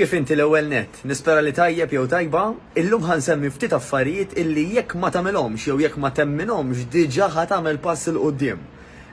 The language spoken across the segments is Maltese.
Kif inti l-ewwel nett? Nispera li tajjeb jew tajba. Illum ħa nsemmi ftit affarijiet illi jekk ma tagħmilhomx jew jekk ma temminhomx diġà ħa tagħmel pass 'il quddiem.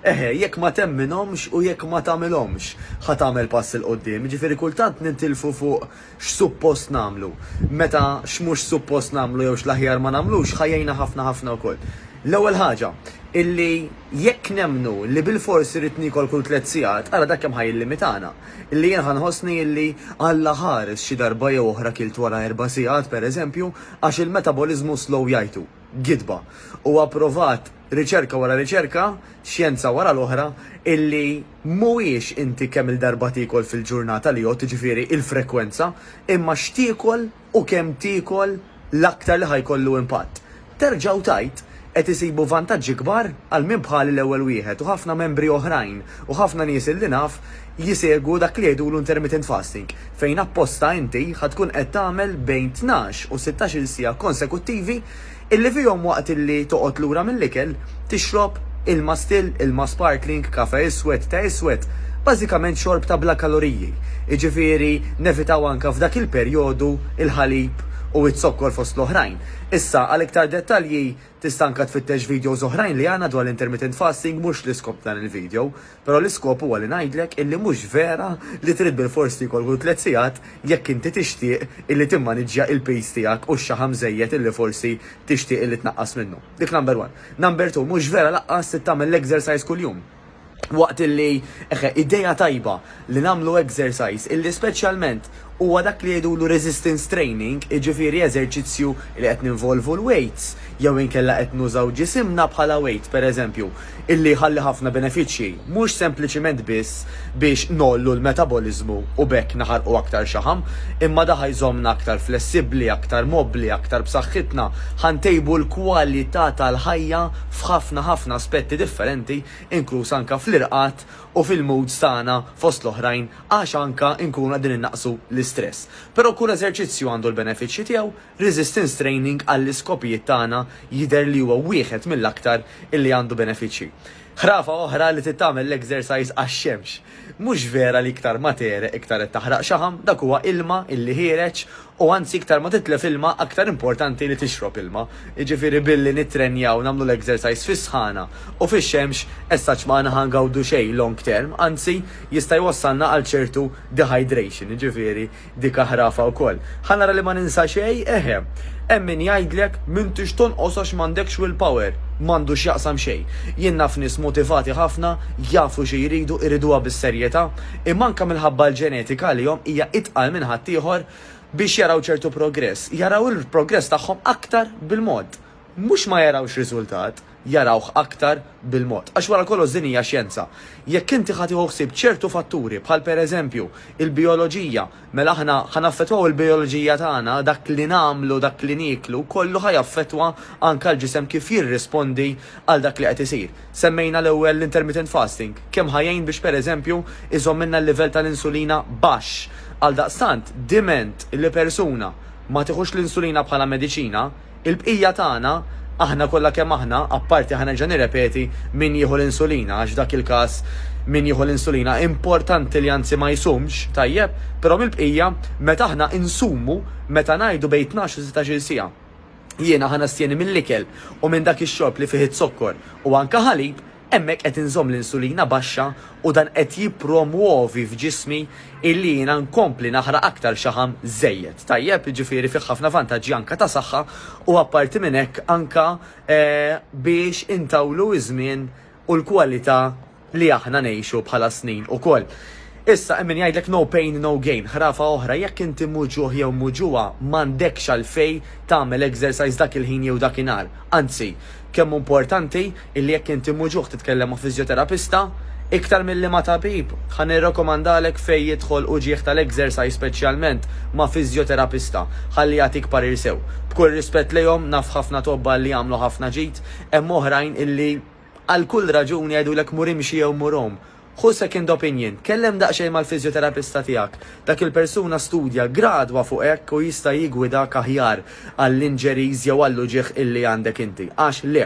Eħe, jekk ma temminhomx u jekk ma tagħmilhomx ħa tagħmel pass 'il quddiem. Jiġifieri kultant nintilfu fuq x'suppost nagħmlu, meta x'mhux suppost nagħmlu jew x'l-aħjar ma nagħmlux ħa jgħinna ħafna ħafna wkoll. L-ewwel ħaġa, illi jekk nemmnu li bilfors irrid niekol kull tliet sigħat, ara dak kemm ħa jillimitana. Illi jien ħa nħossni illi alla ħares xi darba jew oħra kilt wara erba' sigħat, pereżempju, għax il-metaboliżmu slow jgħidu. gidba. Huwa pprovat riċerka wara riċerka, xjenza wara l-oħra, illi mhuwiex inti kemm-il darba tiekol fil-ġurnata li jgħodd, jiġifieri il-frekwenza, imma x'tiekol u kemm tiekol l-aktar li ħa jkollu impatt. Terġa' u tgħid, qed isibu vantaġġi kbar għal min bħali l-ewwel wieħed u ħafna membri oħrajn u ħafna nies illi naf, Jsegwu dak li jgħidulu intermittent fasting, fejn apposta inti ħa tkun qed tagħmel bejn tnax u sittax-il siegħa konsekuttivi illi fihom waqt illi toqgħod lura mill-ikel tixrob ilma still, ilma sparkling, kafè iswed, te iswed, bażikament xorb ta' bla kaloriji. Jiġifieri nevitaw anke f'dak il-perjodu l-ħalib u z-zokkor fost l-oħrajn. Issa għal iktar dettalji tista' anke tfittex videos oħrajn li għandna dwar l-intermittent fasting mhux l-iskop ta' dan il-video. Però l-iskop huwa li ngħidlek illi mhux vera li trid bilfors tiekol kull tliet sigħat jekk inti tixtieq illi timmaniġġja il-piż tiegħek u x-xaħam żejjed illi forsi tixtieq illi tnaqqas minnu. Dik number one. Number two, mhux vera laqqas trid tagħmel l-exercise kuljum. Waqt illi, eħe, idea tajba li nagħmlu exercise illi speċjalment, Huwa dak li jgħidulu resistance training, jiġifieri eżerċizzju li qed ninvolvu l-weights jew inkella qed nużaw ġisimna bħala weight, pereżempju, illi jħalli ħafna benefiċċji, mhux sempliċiment biss biex ngħollu l-metaboliżmu u b'hekk naħarqu aktar xaħam, imma da ħa jżommna aktar flessibbli, aktar mobbli, aktar b'saħħitna, ħa ntejbu l-kwalità tal-ħajja f'ħafna ħafna aspetti differenti, inkluż anke fl-irqad u fil-moods tagħna fost l-oħrajn għax anke nkunu qegħdin innaqqsu l-istress. Però kull eżerċizzju għandu l-benefiċċji tiegħu, resistance training għall-iskopijiet tagħna jidher li huwa wieħed mill-aktar illi għandu benefiċċji. Ħrafa oħra li trid tagħmel l-exercise għax-xemx. Mhux vera li iktar ma tegħreq iktar qed taħraq xaħam, dak huwa ilma illi ħiereġ U anzi iktar ma titlef ilma aktar importanti li tixrob ilma. Jiġifieri billi nittrenjaw nagħmlu l-exercise fis-sħana u fix-xemx essaċ ma aħna ħa ngawdu xejn long term, anzi jista' jwassalna għal ċertu dehydration, jiġifieri dik aħrafa wkoll. Ħa nara li ma ninsa xejn, eħe. Hemm min jgħidlek m'intix tonqos għax m'għandekx will power. M'għandu x'jaqsam xejn. Jien naf nies motivati ħafna, jafu xi jridu, iriduha bis-serjetà, imma anke minħabba l-ġenetika għalihom hija itqal minn ħaddieħor biex jaraw ċertu progress. Jaraw il-progress tagħhom aktar bil-mod. Mhux ma jarawx riżultat, jarawh aktar bil-mod. Għax wara kollox din hija xjenza. Jekk inti ħa tieħu ħsieb ċertu fatturi bħal pereżempju il-bijoloġija, Mela aħna ħa naffettwaw il-bijoloġija tagħna, dak li nagħmlu, dak li nieklu, kollu ħa jaffettwa anke l-ġisem kif jirrispondi għal dak li qed isir. Semmejna l-ewwel l-intermittent fasting, kemm ħa jgħin biex pereżempju jżommilna l-livell tal-insulina baxx. Għaldaqstant, diment li persuna ma tieħux l-insulina bħala mediċina, Il-bqija tagħna, aħna kollha kemm aħna, apparti ħa nerġa' nirrepeti, min jieħu l-insulina, għax f'dak il-każ min jieħu l-insulina importanti li anzi ma jsumx, tajjeb, però mill-bqija, meta aħna insumu, meta ngħidu bejn tnax u sittax-il siegħa, jiena ħa nastjeni mill-ikel u minn dak ix-xorb li fih iz-zokkor u anke ħalib, Hemmhekk qed inżomm l-insulina baxxa u dan qed jippromwovi f'ġismi illi jiena nkompli naħraq aktar xaħam żejjed. Tajjeb? Jiġifieri fih ħafna vantaġġi anke ta' saħħa u apparti minn hekk anke biex intawlu ż-żmien u l-kwalità li aħna ngħixu bħala snin ukoll. Issa hemm min jgħidlek no pain no gain, ħrafa oħra, jekk inti mhu ġuħ jew mhu ġuwa, m'għandekx għalfejn tagħmel exercise dak il-ħin jew dak inhar. Anzi, kemm hu importanti illi jekk inti mhu ġuħ titkellem ma' fiżjoterapista, iktar milli ma' tabib, ħa nirrakkomandalek fejn jidħol uġigħ tal-exercise speċjalment ma' fiżjoterapista, ħalli jagħtik parir sew. B'kull rispett lejhom, naf ħafna tobba illi jagħmlu ħafna ġid, hemm oħrajn illi għal kull raġuni jgħidulek mur imxi jew mur għum, Ħu second opinion, tkellem daqsxejn mal-fiżjoterapista tiegħek. Dak il-persuna studja gradwa fuq hekk u jista' jiggwidak aħjar għall-injuries jew għall-uġigħ illi għandek inti. Għax le,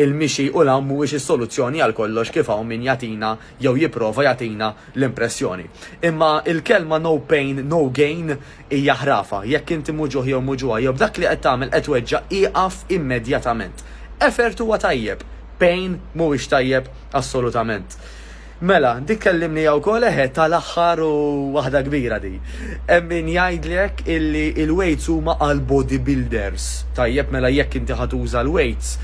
il-mixi u l-għawm mhuwiex is-soluzzjoni għal kollox kif hawn min jagħtina jew jipprova jagħtina l-impressjoni. Imma il-kelma no pain, no gain Hija ħrafa. Jekk inti muġugħ jew muġugħa jew b'dak li qed tagħmel qed tweġġa' ieqaf immedjatament. Effort huwa tajjeb. Pain mhuwiex tajjeb assolutament. Mela, dik kellimniha wkoll eħe tal-aħħar u waħda kbira di. Hemm min jgħidlek illi l-weights huma għal body builders. Tajjeb mela jekk inti ħa tuża l-weights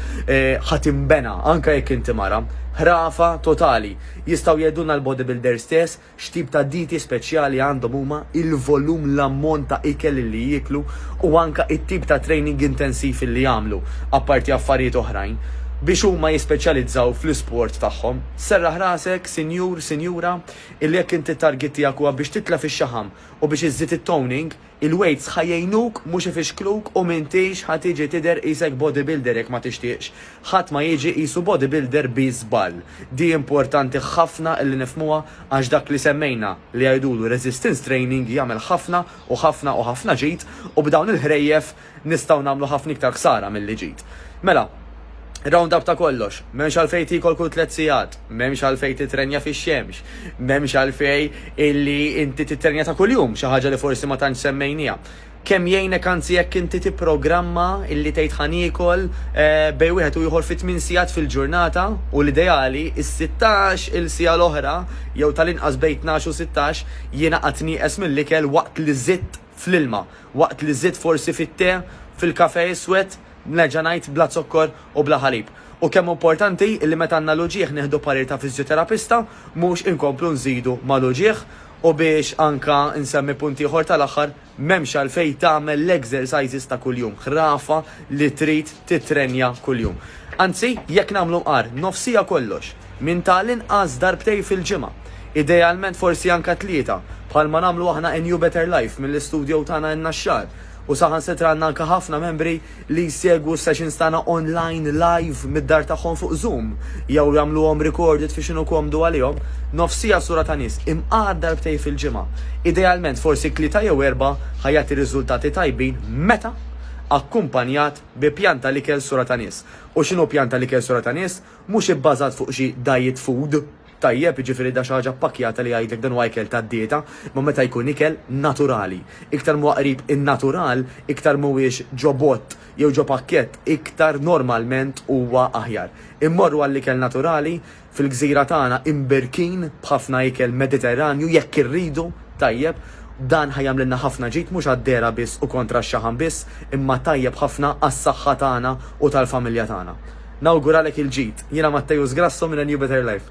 ħa tinbena anke jekk inti mara. Ħrafa totali. Jistgħu jgħidulna l-body builders stess X'tip ta' dieti speċjali għandhom huma, il-volum, l-ammont ta' ikel li jieklu u anke it-tip ta' training intensiv li jagħmlu, apparti affarijiet oħrajn, biex huma jispeċjalizzaw fl-isport tagħhom. Serraħ rasek, sinjur, sinjura, illi jekk inti t-target tiegħek huwa biex titla' fix-xaħam u biex iżżid it-toning, Il-weights ħa jgħinuk mhux ifixkluk u m'intix ħa tiġi tidher qisek bodybuilder jekk ma tixtieqx. Ħadd ma jiġi qisu bodybuilder bi żball. Di importanti ħafna li nifhmuha għax dak li semmejna li jgħidulu resistance training jagħmel ħafna u ħafna u ħafna ġid u b'dawn il-ħrejjef Nistgħu nagħmlu ħafna iktar ħsara milli ġid. Mela, round-up ta' kollox, m'hemmx għalfejn tiekol kull tliet sigħat, m'hemmx għalfejn titrenja fix-xemx, m'hemmx għalfejn illi inti titrenja ta' kuljum, xi ħaġa li forsi ma tantx semmejnieha. Kemm jgħinek anzi jekk inti tipprogramma illi tgħid ħa niekol bejn wieħed u ieħor fi tmien sigħat fil-ġurnata u l-ideali s-sittax il siegħa l-oħra jew tal-inqas bejn tnax u sittax jiena qatt nieqes mill-ikel waqt li żidt fl-ilma, waqt li żidt forsi fit-te, fil-kafè iswed, nerġa' ngħid, bla zokkor u bla ħalib. U kemm hu importanti li meta għandna l-uġigħ nieħdu parir ta' fiżjoterapista, mhux inkomplu nżidu mal-uġigħ. U biex anke nsemmi punt ieħor tal-aħħar, m'hemmx għalfejn tagħmel l-exercises ta' kuljum, ħrafa li trid tittrenja kuljum. Anzi, jekk nagħmlu mqar, nofsija kollox. minn ta' l-inqas darbtejn fil-ġimgħa, idealment forsi anke tlieta, bħalma nagħmlu aħna in You Better Life mill-istudjow tagħna in-Naxxar, u saħansitra għandna anke ħafna membri li jsegwu s-sessions tagħna online live mid-dar tagħhom fuq Zoom jew jagħmluhom recorded fi x'inhu komdu għalihom, nofsija sura ta' nies imqagħad darbtejn fil-ġimgħa, idealment forsi tlieta jew erbgħa ħa jagħti riżultati tajbin meta akkumpanjat bi pjan ta' l-ikel sura ta' nies. U x'inhu pjan ta' l-ikel sura ta' nies? Mhux ibbażat fuq xi diet food, tajjeb, jiġifieri da xi ħaġa ppakkjata li jgħidlek dan huwa ikel tad-dieta, imma meta jkun ikel naturali. Iktar m'huwa qrib in-natural, iktar m'huwiex ġo bott jew ġo pakkett, iktar normalment huwa aħjar. Immorru għall-ikel naturali, fil-gżira tagħna imbirkin b'ħafna ikel Mediterranju, jekk irridu, tajjeb, Dan ħa jagħmlilna ħafna ġid mhux għad-dehra biss u kontra x-xaħam biss, imma tajjeb ħafna għas-saħħa tagħna u tal-familja tagħna. Nawguralek il-ġid. Jiena Matteus Grasso minn A New Better Life.